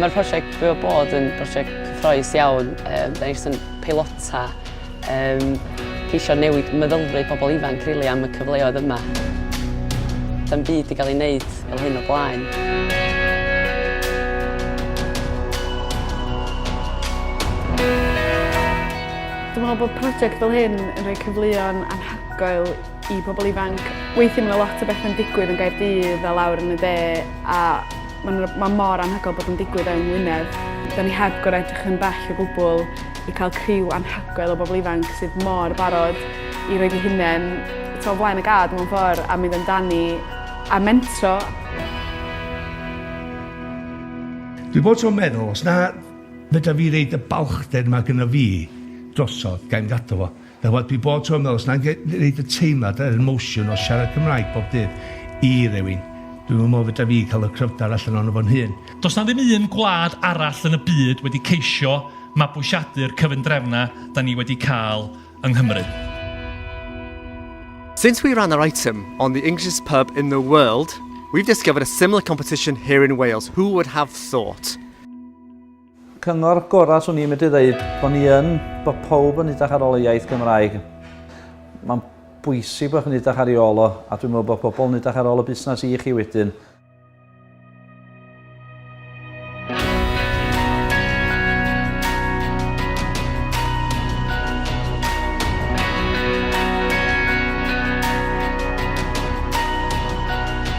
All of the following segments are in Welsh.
Mae'r prosiect Byw'r Bod yn brosiect cyffroes iawn. Yym, da ni jyst yn peilota Yym, ceisio newid meddylfryd pobl ifanc rili am y cyfleoedd yma. Do'm byd 'di gael ei wneud fel hyn o blaen. Dwi'n meddwl bod prosiect fel hyn yn rhoi cyfleon anhygoel i pobl ifanc. Weithiau mae 'na lot o bethau'n digwydd yn Gaerdydd a lawr yn y de a ma'n r- ma' mor anhygoel bod o'n digwydd yng Ngwynedd. 'Da ni heb gor'o' edrych yn bell o gwbwl. i cael criw anhygoel o bobl ifanc sydd mor barod i roed eu hunain t'o' o flaen y gad mewn ffor a mynd amdani a mentro. Dwi bob tro'n meddwl os na fedra fi reid y balchder 'ma gynno fi drosodd, ga i'm gadal o. Nawr, dwi bob tro yn meddwl, os na i wneud y teimlad, yr emotion o siarad Cymraeg bob dydd i rywun, dwi'm yn meddwl fedra fi cael y cryfder allan ohono fo'n hun. Does 'na ddim un gwlad arall yn y byd wedi ceisio mabwysiadu'r cyfundrefnau 'da ni wedi cael yng Nghymru. Since we ran our item on the Englishest pub in the world, we've discovered a similar competition here in Wales, who would have thought? Cyngor gorau swn i'n medru ddeud bod ni yn, bod pawb yn edrych ar ôl y iaith Gymraeg. Mae'n bwysig bod chi'n edrych ar ei ôl o, a dwi'n meddwl bod pobl yn edrych ar ôl y busnes i chi wedyn.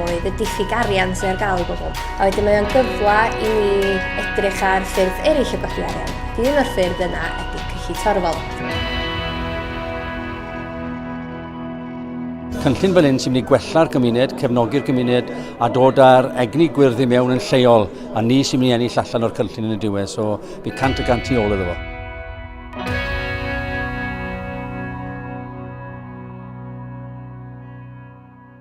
oedd y diffyg arian sydd ar gael i bobl. A wedyn mae o'n gyfle i ni edrych ar ffyrdd eraill o godi arian. Un o'r ffyrdd yna ydy cyllid torfol. cynllun fel hyn sy'n mynd i gwella'r gymuned, cefnogi'r gymuned a dod â'r egni gwyrdd i mewn yn lleol a ni sy'n mynd i ennill allan o'r cynllun yn y diwedd. So, fi cant y gant i ôl iddo fo.